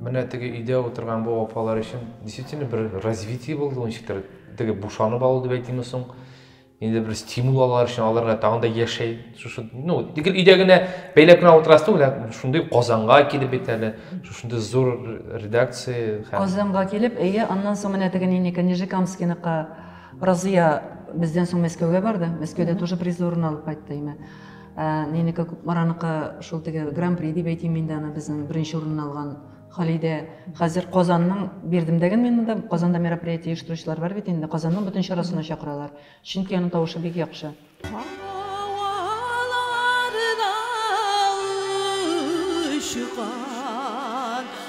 Менә теге өйдә утырган бу апалар өчен действительно бер развитие булды ул ничектер. Теге бушанып алу дип әйтимме соң? Инде бер стимул алар өчен аларга тагын да яшәй. Шушы, ну, тик өйдә генә бәйләп кенә утырасы түгел, ә шундый Казанга килеп бит әле. Шушындый зур редакция һәм Казанга килеп, әйе, аннан соң менә теге нинеке, Нижекамскиныкы Разыя бездән соң Мәскәүгә барды. Мәскәүдә тоже призлы урын алып кайтты име. Ә, нинеке Кукмараныкы шул теге гран-при дип әйтим инде аны безнең беренче урынны алган Халидә. Хәзер Казанның бирдем дәген мин монда. Казанда мероприятие оештыручылар бар бит инде. Казанның бөтен чарасына чакыралар. Чөнки аның тавышы бик яхшы. Һаваларда очкан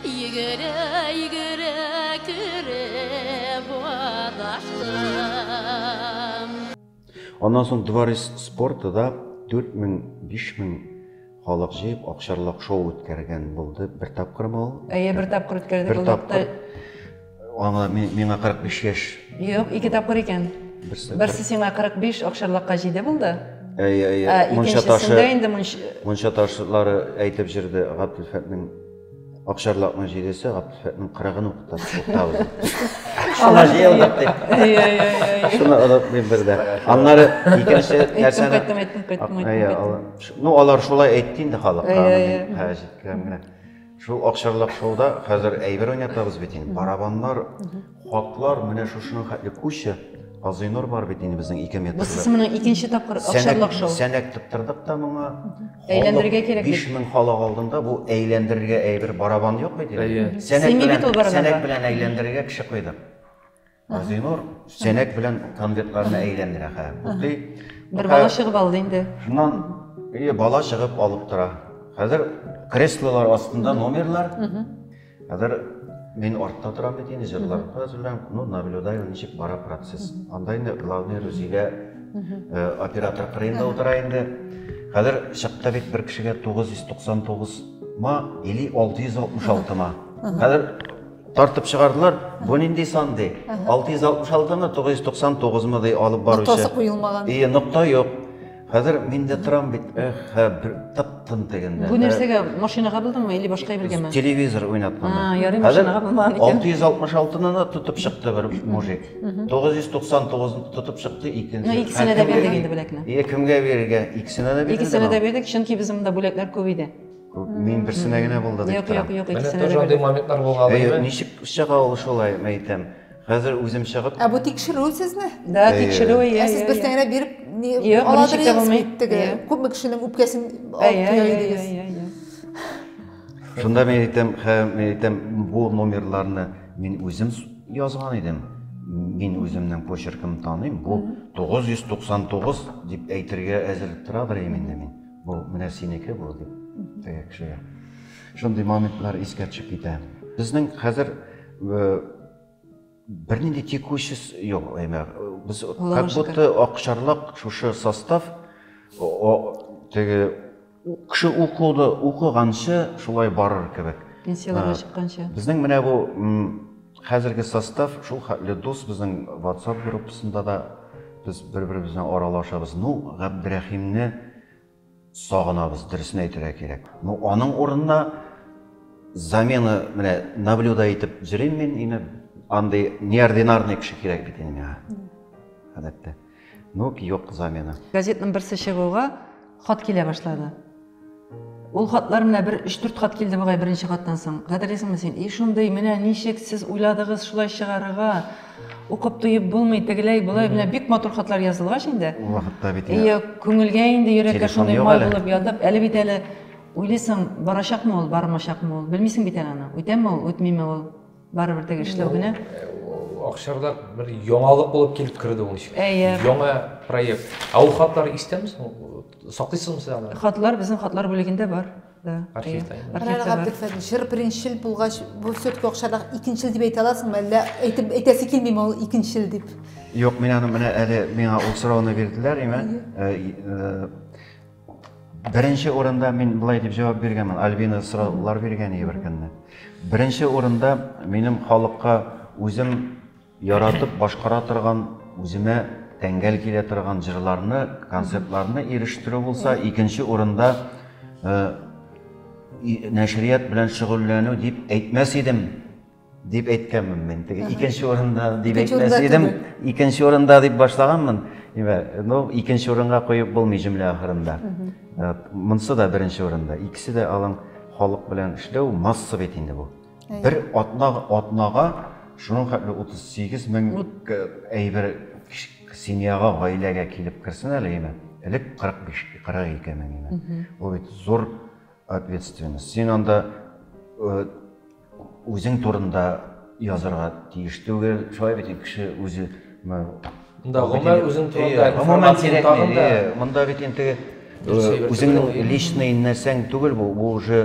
Йөгерә, йөгерә, кереп адаштым. Аннан соң дворец спорта да 4000-5000 халык җыеп акчарлак шоу үткәргән булды бер тапкырмы ул? Әйе, бер тапкыр үткәрдек. Бер тапкыр. Аңа миңа 45 яшь. Юк, ике тапкыр икән. Берсе, Берсе сиңа 45 акчарлакка җиде булды. Әйе, әйе. Ә икенчесендә инде мунча ташлары әйтеп җырды Габделфәтнең Акчарлакның җидесе, Габдулфәтнең кырыгын укытасы укытабыз. Шуна җыелдык дип. Шуна ылып мин бердә. Аннары икенче нәрсәне кайттым, әйттем, кайттым, әйттем. Ну, алар шулай әйтте инде халыкка, мин хәзер җиткән генә. Шул акчарлак шоуда хәзер әйбер уйнатабыз бит инде. Барабаннар, Хатлар менә шушының хәтле куча. Газыйнур бар бит инде безнең ике метрлы. Бусысы моның икенче тапкыр акчарлак шоу. Сәнәк тоттырдык та моңа. Әйләндерергә кирәк бит. 5000 халык алдында бу әйләндерергә әйбер барабан юк бит. Сәнәк белән, сәнәк белән әйләндерергә кеше куйдык. Газыйнур сәнәк белән конвертларны әйләндерә хә. Бутый. Бер бала чыгып алды инде. Шуннан бала чыгып алып тора. Хәзер креслолар астында номерлар. Хәзер мин артта торам бит инде, җырлап та әзерләнеп, ну, наблюдаю, ничек бара процесс. Анда инде главный Рузилә э, оператор кырыенда утыра инде. Хәзер чыкты бит бер кешегә 999 ма или 666 ма. Хәзер тартып чыгардылар, бу нинди сан ди? 666 мы, 999 мы ди алып баручы. Ноктасы куелмаган. И, нокта юк. Хәзер мин дә торам бит, эх, хә, бер тып-тын тегендә. Бу нәрсәгә, машинага булдыңмы или башка әйбергәме? Телевизор уйнатманы. А, ярый машинага булмаган икән. 666-ны да тотып чыкты бер мужик. 999-ны тотып чыкты икенче. Ну, икесенә дә бирдек инде бүләкне. Е, кемгә бирергә? Икесенә дә бирдек. Икесенә дә бирдек, чөнки без монда бүләкләр күп иде. Мин берсенә генә булды дип торам. Юк, юк, юк, икесенә дә бирдек. Менә тоже андый моментлар булган. Әйе, ничек чыга ул шулай, мәйтәм. Хәзер үзем чыгып. Ә бу тикшерү сезне? Да, тикшерү, әйе. Ә сез бер тәңгә биреп, ни, аладыр идегез бит теге. Күпме кешенең үпкәсен алып куя идегез. Шунда мин әйтәм, мин әйтәм, бу номерларны мин үзем язган идем. Мин үземнең почеркым таныйм. Бу 999 дип әйтергә әзер торадыр инде мин. Бу менә синеке бу дип. Теге кешегә. Шундый моментлар искә төшеп китә. Безнең хәзер бернинди текучий юк әйме без как будто акчарлак шушы состав теге кеше укуды укыганчы шулай барыр кебек пенсияләргә чыкканчы безнең менә бу хәзерге состав шул хәтле дус безнең ватсап группасында да без бер беребез белән аралашабыз ну габдрәхимне Сагынабыз, дөресен әйтергә кирәк. Ну, аның урынына замена менә наблюда итеп йөрим мин инде. Андый неординарный кеше кирәк бит инде миңа. Гадәттә. Ну, юк замена. Газетның берсе чыгуга хат килә башлады. Ул хатлар менә бер 3-4 хат килде бугай беренче хаттан соң. Хәтерлисеңме син? И шундый, менә ничек сез уйладыгыз шулай чыгарырга? Укып туеп булмый, тегеләй, болай, менә бик матур хатлар язылгач инде. Ул вакытта бит инде. Ие, күңелгә инде йөрәккә шундый май булып ятып, әле бит әле уйлыйсың, барачакмы ул, бармачакмы ул, белмисең бит әле аны, үтәме ул, үтмиме ул, барыбер теге эшләү генә. Акчарда бер яңалык булып килеп керде ул ишек. Әйе. Яңа проект. Ә ул хатлар истәме соң? Саклыйсызмы сез аны? Хатлар безнең хатлар бүлегендә бар. Да. Архив та. Архив Райла бар. Габделфәтовна, чыр беренчел булгач, бу все-таки акчада икенчел дип әйтә аласыңмы, әллә әйтеп әйтәсе килмиме ул икенчел дип? Юк, мин аны менә әле миңа ул сорауны бирделәр, имә. Э, э, Беренче урында мин былай дип җавап биргәнмен. Альбина сораулар биргән иде бер көнне. Беренче урында минем халыкка үзем Яратып башкара торган, үземә тәңгәл килә торган җырларны, концертларны ирештерү булса, икенче урында нәшрият белән шөгыльләнү дип әйтмәс идем, дип әйткәнмен мин. Теге икенче урында дип әйтмәс идем, икенче урында дип башлаганмын. Ну, икенче урынга куеп булмый җөмлә ахырында. Монсы да беренче урында. Икесе дә алың халык белән эшләү масса бит инде бу. Бер атна атнага шуның хәтле 38 мең әйбер семьяга, гаиләгә килеп керсен әле име. Элек 45 42 мең име. Ул бит зур ответственность. Син анда э, үзең турында язарга тиеш түгел. Шулай бит кеше үзе Монда гомер үзең турында информация тагын да. Монда бит инде үзеңнең личный нәрсәң түгел бу, бу уже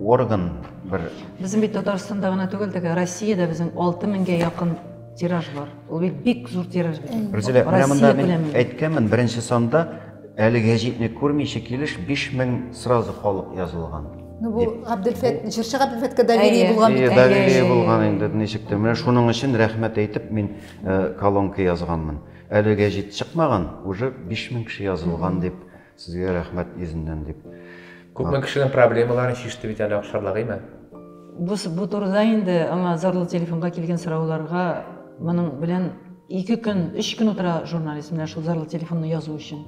орган бер. Безнең бит Татарстанда гына түгел, теге Россиядә безнең 6000гә якын тираж бар. Ул бит бик зур тираж бит. Рүзилә, менә монда мин әйткәнмен, беренче санда әле гәҗитне күрмичә килеш 5000 сразу халык язылган. Ну, бу Габделфәт, җырчы Габделфәткә доверие булган бит. Доверие булган инде ничек тә. Менә шуның өчен рәхмәт әйтеп мин э, колонка язганмын. Әле гәҗит чыкмаган, уже 5000 кеше язылган дип, сезгә рәхмәт йөзеннән дип. Күпме кешенең проблемаларын шиште бит әле Акшарлак, әйме? Бу, бу турыда инде аңа зарлы телефонга килгән сорауларга моның белән ике көн, өч көн утыра журналист менә шул зарлы телефонны язу өчен.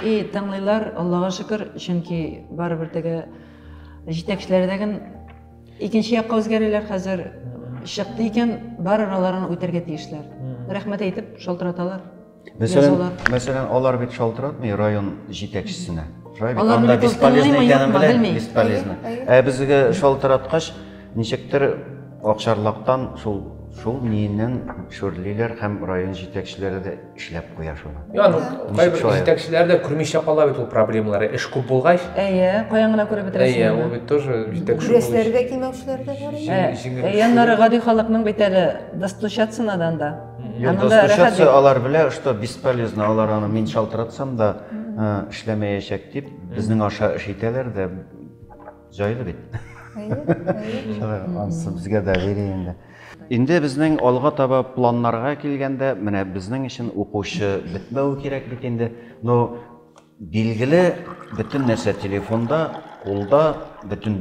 И тыңлыйлар, Аллага шөкер, чөнки барыбер теге җитәкчеләрдәген икенче якка үзгәрәләр хәзер чыкты икән, барыр аларын үтәргә тиешләр. Рәхмәт әйтеп шалтыраталар. Мәсәлән, мәсәлән, алар бит шалтыратмый район җитәкчесенә. Алар анда бесполезны икәнен белән, бесполезны. Ә безгә шалтыраткач, ничектер Акчарлактан шул шул ниеннән шүрлиләр һәм район җитәкчеләре дә эшләп куя шуны. Я, ну, кайбер җитәкчеләр дә күрми эшләп кала бит ул проблемалары, эш күп булгач. Әйе, каян гына күреп бетерәсең. Әйе, ул бит тоже җитәкче. Күрәселәре дә кимәүчеләр дә бар. Әйе, яннары гади халыкның бит әле достучаться надан да. Юк, достучаться алар белә, что бесполезно, алар аны мин шалтыратсам да эшләмәячәк дип, безнең аша эш итәләр дә җайлы бит. Әйе, әйе. Ансы безгә дә бери инде. Инде безнең алга таба планнарга килгәндә, менә безнең өчен укучы бетмәү кирәк бит инде. Но билгеле, бөтен нәрсә телефонда, кулда, бөтен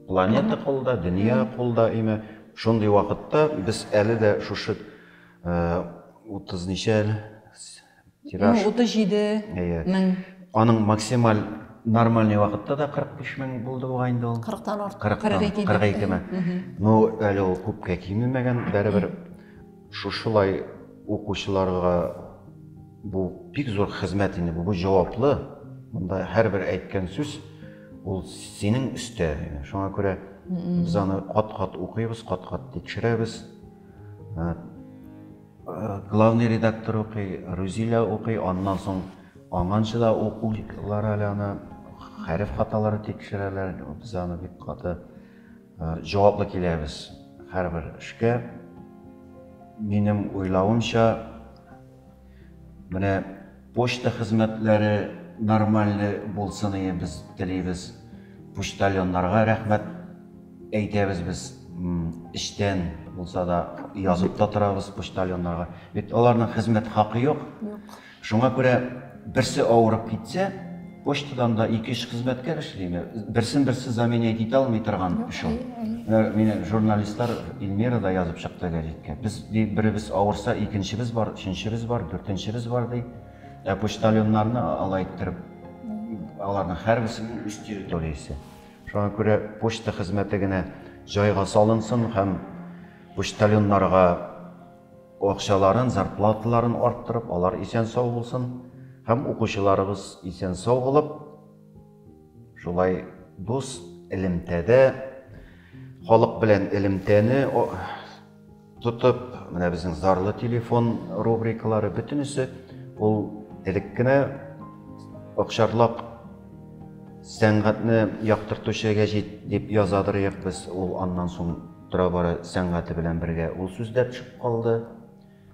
планета кулда, дөнья кулда име. Шундый вакытта без әле дә шушы 30 э, ничә әле Тираж. 37 мең. Аның максималь нормальный вакытта да 45 мең булды буга инде ул. 40 тан артык. 40 тан 42 мең. Ну, әле ул күпкә кимемәгән, бәребер шушылай укучыларга бу бик зур хезмәт инде, бу җаваплы. Монда һәрбер әйткән сүз ул синең өстә. Шуңа күрә без аны кат-кат укыйбыз, кат-кат тикшерәбез. Главный редактор укый, Рузилә укый, аннан соң аңанчы да укыйлар әле аны, хәреф хаталары тикшерәләр, без аны бик каты җаваплы киләбез һәрбер эшкә. Минем уйлавымча, менә Почта хезмәтләре нормальный булсын иде без телибез. Почтальоннарга рәхмәт әйтәбез без эчтән булса да язып та торабыз почтальоннарга. Бит аларның хезмәт хакы юк. Шуңа күрә берсе авырып китсә, Почтадан да ике-өч хезмәткәр эшлиме? Берсен-берсе заменять итә алмый торган эш ул. Менә журналистлар Эльмира да язып чыкты гәҗиткә. Без беребез авырса, икенчебез бар, өченчебез бар, дүртенчебез бар, ди. Ә почтальоннарны алай иттереп, аларның һәрберсенең үз территориясе. Шуңа күрә почта хезмәте генә җайга салынсын һәм почтальоннарга акчаларын, зарплаталарын арттырып, алар исән-сау булсын һәм укучыларыбыз исән-сау булып, шулай дус элемтәдә халык белән элемтәне тотып, менә безнең зарлы телефон рубрикалары бөтенесе ул элек кенә Акчарлак сәнгатьне яктыртучы гәҗит дип язадыр без ул аннан соң Тора-бара сәнгате белән бергә ул сүз дә төшеп калды.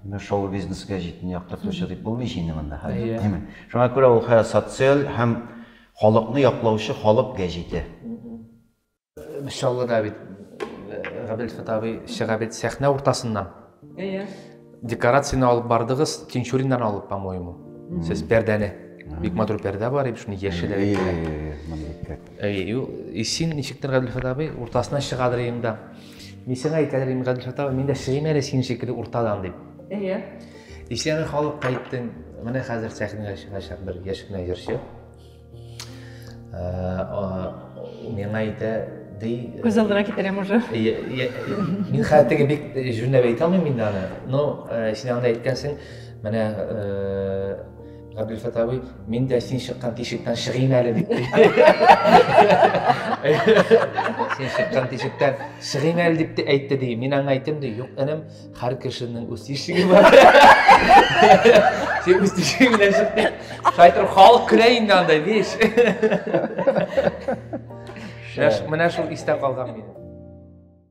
Менә шоу-бизнеска җитен яктыртучы дип булмый инде монда хәзер, димме? Шуңа күрә ул хәзер социаль һәм халыкны яклаучы халык гәҗите. Чаллыда бит Габделфәт абый чыга бит сәхнә уртасыннан. Әйе. Декорацияне алып бардыгыз, Тинчуриннан алып, по-моему. Сез пәрдәне. Бик матур пәрдә бар, и шуны яшеле. И син ничектер Гадилфат абый, уртасына чыгадырыйм да. Мин сиңа әйтәдерим, Гадилфат абый, мин дә чыгыйм әле син шикелле уртадан дип. Әйе. Исән халыкка әйттең, менә хәзер сәхнәгә чыгачак бер яшь кенә җырчы. миңа әйтә ди күз алдына китерәм уже мин хәзер теге бик җүнләп әйтә алмыйм инде аны но син анда әйткәнсең менә Габдельфат абый, мин дә син чыккан тишектән чыгыйм әле дип. Син чыккан тишектән чыгыйм әле дип әйтте ди. Мин аңа әйттем ди, юк, энем, Һәр кешенең үз тишеге бар. Сен үз тишегең белән чыктың. Шайтыр халык көлә инде андай, биш. Менә шул истә калган минем.